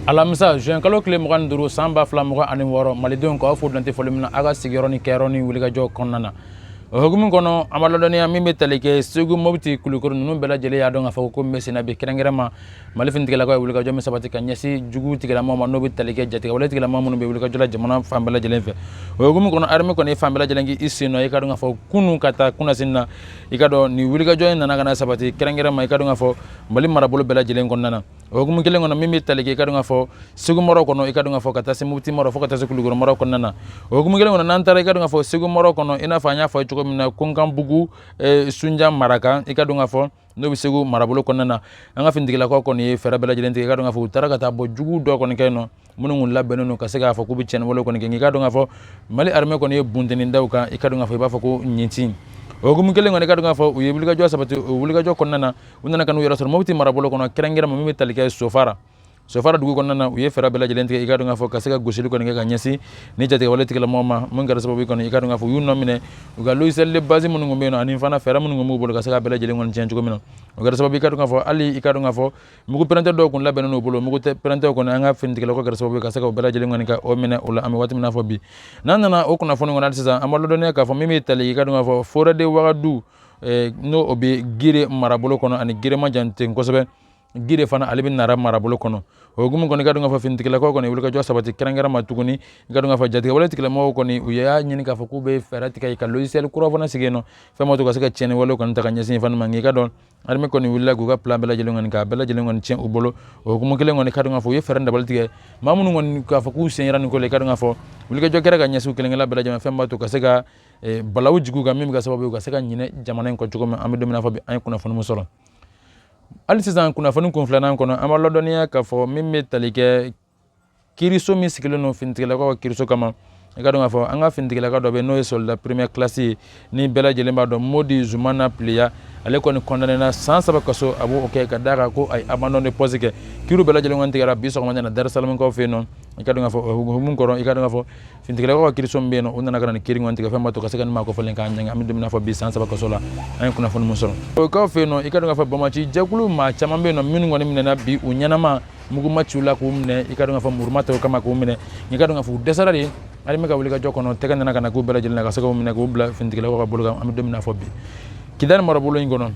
alamisa juin kalo kile mugan ni duuru san ba fila mugan ani wɔɔrɔ malidenw k'aw fo dantɛ foli min na aw ka sigiyɔrɔ ni kɛyɔrɔ ni wulikajɔ kɔnɔna na o hukumu kɔnɔ an b'a ladɔnniya min bɛ tali kɛ segu mopti kulukɔrɔ ninnu bɛɛ lajɛlen y'a dɔn k'a fɔ ko min bɛ senna bi kɛrɛnkɛrɛn ma mali finitigilakaw ye wulikajɔ min sabati ka ɲɛsin jugu tigilamɔgɔ ma n'o bɛ tali kɛ jatigɛwale tigilamɔgɔ minnu bɛ wulikajɔ la jamana fan bɛɛ lajɛlen fɛ o hukumu kɔnɔ arme kɔni ye fan bɛɛ lajɛlen k'i sen nɔ i ka dɔn k'a fɔ kunun ka taa kunasinin na i ka dɔn nin wulikajɔ in nana ka na sabati kɛrɛnkɛrɛn ma i ka dɔn k'a fɔ mali marabolo bɛɛ lajɛlen kɔnɔna na o hukumu kelen kɔnɔ min bɛ tali kɛ i ka dɔn k'a fɔ segu mara kɔnɔ i ka dɔn k'a fɔ ka taa se mopti mara fo ka taa se kulukɔrɔ mara kɔnɔna na o hukumu kelen kɔnɔ n'an taara i ka dɔn k'a fɔ segu mara kɔnɔ i n'a fɔ an y'a fɔ cogo min na konkanbugu eh, sunja maraka i ka dɔn k'a fɔ n'o bɛ segu marabolo kɔnɔna na an ka finitigilakaw kɔni ye fɛɛrɛ bɛɛ lajɛlen tigɛ i ka dɔn k'a fɔ u taara ka taa bɔ jugu dɔ kɔni kɛ yen nɔ minnu kun labɛnnen don ka se k'a fɔ k'u bɛ cɛnni wale kɔni kɛ nka i ka dɔn k'a fɔ mali arme kɔni ye bunteni da u kan i ka dɔn k'a fɔ i b'a fɔ ko ɲintin o hukumu kelen kɔnɔ i ka dɔn k'a fɔ u ye wulikajɔ sabati o wulikajɔ kɔnɔna na u nana ka n'u yɛrɛ sɔrɔ mopti marabolo kɔnɔ kɛrɛnkɛrɛn ma min bɛ tali kɛ sofara sofara dugu kɔnɔna na u ye fɛɛrɛ bɛɛ lajɛlen tigɛ i ka dɔn k'a fɔ ka se ka gosili kɔni kɛ ka ɲɛsin nin jatigɛwale tigilamɔgɔ ma min kɛra sababu kɔni i ka dɔn k'a fɔ u y'u nɔ minɛ u ka logiciel de base minnu tun bɛ yen nɔ ani fana fɛɛrɛ minnu tun b'u bolo ka se ka bɛɛ lajɛlen kɔni tiɲɛ cogo min na o kɛra sababu i ka dɔn k'a fɔ hali i ka dɔn k'a fɔ mugu pɛrɛnta dɔw kun labɛnnen n'u bolo mugu pɛrɛntaw kɔni an ka finitigilakaw kɛra sababu ka se ka o bɛɛ lajɛlen kɔni ka o minɛ o la an bɛ waati min na fɔ bi n'an nana o kunnafoni kɔnɔ hali sisan an b'a ladɔnniya k'a fɔ min bɛ tali i ka dɔn k'a fɔ forêt de wagadu eh, n'o o bɛ gire marabolo kɔnɔ ani gire ma jan ten kosɛbɛ gire fana ale bɛ nara marabolo kɔnɔ o hukumu kɔnɔ i ka dɔn k'a fɔ finitigilakaw kɔni wulikajɔ sabati kɛrɛnkɛrɛn ma tuguni i ka dɔn k'a fɔ jatigɛwale tigilamɔgɔw kɔni u y'a ɲini k'a fɔ k'u bɛ fɛɛrɛ tigɛ ka logiciel kura fana sigi yen nɔ fɛn b'a to ka se ka tiɲɛni walew kɔni ta ka ɲɛsin fama ma nka i ka dɔn armée kɔni wulila k'u ka plan bɛɛ lajɛlen kɔni k'a bɛɛ lajɛlen kɔni tiɲɛ u bolo o hukumu kelen kɔnɔ i ka dɔn k'a fɔ u ye fɛɛrɛ dabali tigɛ maa minnu kɔni k'a fɔ k'u sen yera nin ko la i ka dɔn k'a fɔ wulikajɔ kɛra ka ɲɛsin u kelenkelen bɛɛ lajɛlen fɛn b'a to ka se ka eh, balawu jigin u kan min bɛ kɛ sababu ye u ka se ka ɲinɛ jamana in kɔ cogo min an bɛ don min na fɔ bi an ye kunnafoni min sɔrɔ hali sisan kunnafoni kun filanan kɔnɔ an b'a ladɔnniya k'a fɔ min bɛ tali kɛ kiriso min sigilen don finitigilakaw ka kiriso kama i ka dɔn k'a fɔ an ka finitigilaka dɔ bɛ n'o ye soldat première classe ye ni bɛɛ lajɛlen b'a dɔn modi zumana pliya ale kɔni kɔndanena san saba kaso a b'o kɛ ka da kan ko a ye abandon de poste kɛ kiriw bɛɛ lajɛlen kɔni tigɛra bi sɔgɔma in na darisalamukaw fɛ yen nɔ i ka dɔn k'a fɔ o hukumu kɔnɔ i ka dɔn k'a fɔ finitigilakaw ka kiriso min bɛ yen nɔ o nana ka na nin kiri kɔni tigɛ fɛn b'a to ka se ka nin maa kofɔlen k'a ɲangi an bɛ don min na fɔ bi san saba kaso la an ye kunnafoni min sɔrɔ o kaw fɛ yen nɔ i ka dɔn k'a fɔ banbaanci jɛkulu maa caman bɛ yen nɔ minnu kɔni minɛna bi u ɲɛnama mugu ma ci u la k'u minɛ i ka dɔn k'a fɔ muru ma ta u kama k'u minɛ n'i ka dɔn k'a fɔ u dɛsɛra de armée ka wulikajɔ kɔnɔ tɛgɛ nana ka na k'u bɛɛ lajɛlen na ka se k'u minɛ k'u bila finitigilakaw ka bolo kan an bɛ don min na fɔ bi kidali marabolo in kɔnɔ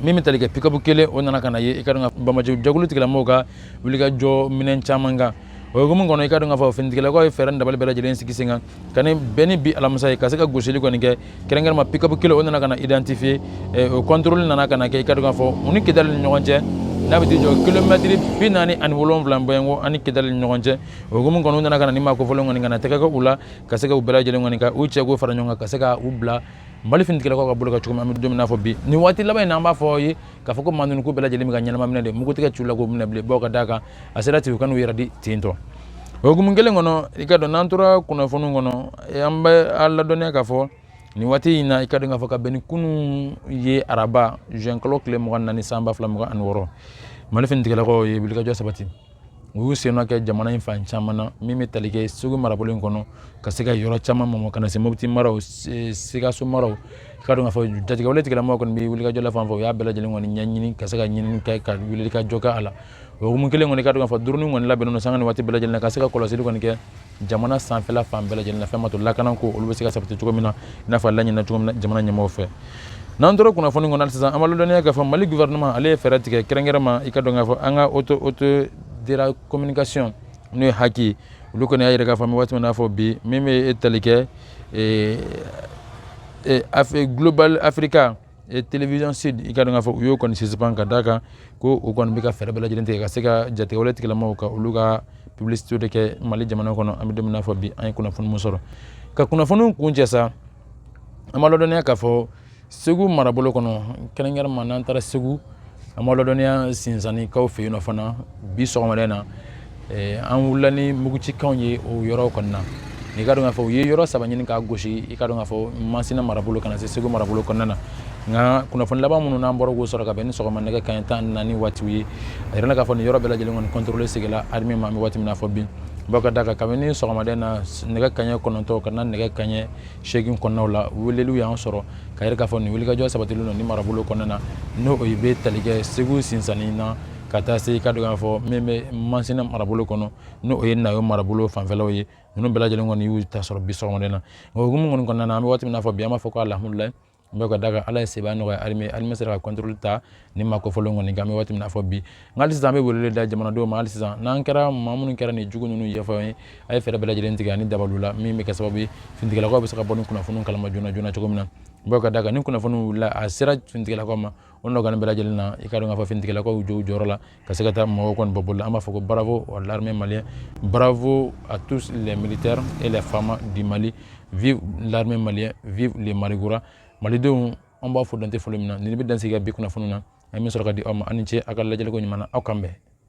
min bɛ tali kɛ pikabu kelen o nana ka na ye i ka dɔn k'a fɔ banbaanci jɛkulu tigilamɔgɔw ka wulikajɔ minɛn caman kan o hukumu kɔnɔ i ka dɔn k'a fɔ finitigilakaw ye fɛɛrɛ dabali bɛɛ lajɛlen sigi sen kan ka ni bɛn ni bi alamisa ye ka se ka gosili kɔni kɛ kɛrɛnkɛrɛnma pikapu kelen o nana ka na identifier eh, o contrôle nana ka na kɛ i ka dɔn k'a fɔ u ni kidali ni ɲɔgɔn cɛ n'a bɛ t'i jɔ kilomɛtiri bi naani ani wolonwula bɔɲɔgɔn ani kidali ni ɲɔgɔn cɛ o hukumu kɔnɔ u nana ka na ni maa kofɔlen kɔni ka na tɛgɛ kɛ u la ka se ka u bɛɛ lajɛlen kɔni ka u cɛ k'u fara ɲɔgɔn kan ka se ka u bila mali finitigilakaw ka bolo ka cogo min an bɛ don min na fɔ bi nin waati laban in na an b'a fɔ aw ye k'a fɔ ko maa ninnu k'u bɛɛ lajɛlen bɛ ka ɲɛnama minɛ de mugu tɛ ka ci u la k'u minɛ bilen bawo ka d'a kan a sera ten u ka n'u yɛrɛ di ten tɔ o hukumu kelen kɔnɔ i ka dɔn n'an tora kunnafoniw kɔnɔ an bɛ a ladɔnniya k'a fɔ nin waati in na i ka dɔn k'a fɔ ka bɛn ni kunun ye araba juin kalo tile mugan naani san ba fila mugan ani wɔɔrɔ mali finitigilakaw ye wulikajɔ sabati u y'u sennɔ kɛ jamana in fan caman na min bɛ tali kɛ segu marabolo in kɔnɔ ka se ka yɔrɔ caman mɔmɔ ka na se mopti maraw sikaso maraw i ka dɔn k'a fɔ jatigɛwale tigilamɔgɔw kɔni bɛ wulikajɔ la fan fɛ u y'a bɛɛ lajɛlen kɔni ɲɛɲini ka se ka ɲinini kɛ ka wulikajɔ kɛ a la o hukumu kelen kɔni i ka dɔn k'a fɔ dɔrɔni kɔni labɛnnen don sanga ni waati bɛɛ lajɛlen na ka se ka kɔlɔsili kɔni kɛ jamana sanfɛla fan bɛɛ lajɛlen na fɛn ma to lakanako olu bɛ se ka sabati cogo min na i n'a fɔ a laɲinina cogo min na jamana ɲɛmɔgɔw fɛ n'an tora kunnafoni kɔnɔ hali sisan an b'a lɔdɔnniya k'a fɔ mali gouvernement ale ye fɛɛrɛ tigɛ kɛrɛnkɛrɛnma i ka dɔn k'a fɔ an ka haute autorité de la communication n'o ye HAC ye olu kɔni y'a yira k'a fɔ an bɛ waati min na fɔ bi min bɛ tali kɛ global africa et télévision sud i ka dɔn k'a fɔ u y'o kɔni suspend ka d'a kan ko u kɔni bɛ ka fɛɛrɛ bɛɛ lajɛlen tigɛ ka se ka jatigɛwale tigilamaaw ka olu ka publicité de kɛ mali jamana kɔnɔ an bɛ don min na fɔ bi an ye kunnafoni min sɔrɔ ka kunnafoniw kuncɛ sa an b'a ladɔnniya k'a fɔ segu marabolo kɔnɔ kɛrɛnkɛrɛnma n'an taara segu an b'a ladɔnniya sinsannikaw fɛ yen nɔ fana bi sɔgɔmada na eh, an wulila ni mugucikanw ye o yɔrɔ kɔni na i ka dɔn k'a fɔ u ye yɔrɔ saba ɲini k'a gosi i ka dɔn k'a fɔ masina marabolo ka na se segu marabolo kɔnɔna na nka kunnafoni laban minnu n'an bɔra k'o sɔrɔ ka bɛn ni sɔgɔma nɛgɛ kaɲɛ tan naani waatiw ye a yirala k'a fɔ nin yɔrɔ bɛɛ lajɛlen kɔni contrôle seginla armée ma an bɛ waati min na fɔ bi bawo ka d'a kan kabini sɔgɔmada in na nɛgɛ kaɲɛ kɔnɔntɔn ka na nɛgɛ kaɲɛ seegin kɔnɔnaw la weleliw y'an sɔrɔ k'a yira k'a fɔ nin wulikajɔ sabatilen don nin marabolo kɔnɔna na n'o o bɛ tali kɛ segu sinsanni na ka taa se ka dɔn k'a fɔ min bɛ masina marabolo kɔnɔ n'o o ye nayo marabolo fanfɛlaw ye ninnu bɛɛ lajɛlen kɔni y'u ta sɔrɔ bi sɔgɔmada na o hukumu kɔni kɔnɔna na an bɛ waati min na fɔ bi an b'a fɔ ko alhamdulilayi bawo ka d'a kan ala ye seba nɔgɔya armée armée sera ka contrôle ta nin maa kofɔlen kɔni kan an bɛ waati min na fɔ bi nka sisan an bɛ wele da jamanadenw ma hali sisan n'an kɛra maa minnu kɛra nin jugu ninnu yebaa ye a ye fɛɛrɛ bɛɛ lajɛlen tigɛ ani dabaliw la min bɛ kɛ sababu ye finitigilakaw bɛ se ka bɔ ni kunnafoni kalama joona joona cogo min na bawo ka d'a kan ni kunnafoni wulila a sera finitigilakaw ma o nɔgɔnin bɛɛ lajɛlen na i ka dɔn k'a fɔ finitigilakaw jɔ u jɔyɔrɔ la ka se ka taa mɔgɔw kɔni bɔ bolo la an b'a fɔ ko bravo à l'armée malien bravo à tous les militaires et les FAMa du Mali vive l'armée malien vive les Malikura malidenw an b'a fɔ dan tɛ foli min na nin bɛ dan sigi ka bi kunnafoni na an bɛ sɔrɔ ka di aw ma aw ni ce aw ka lajɛliko ɲuman na aw k'an bɛn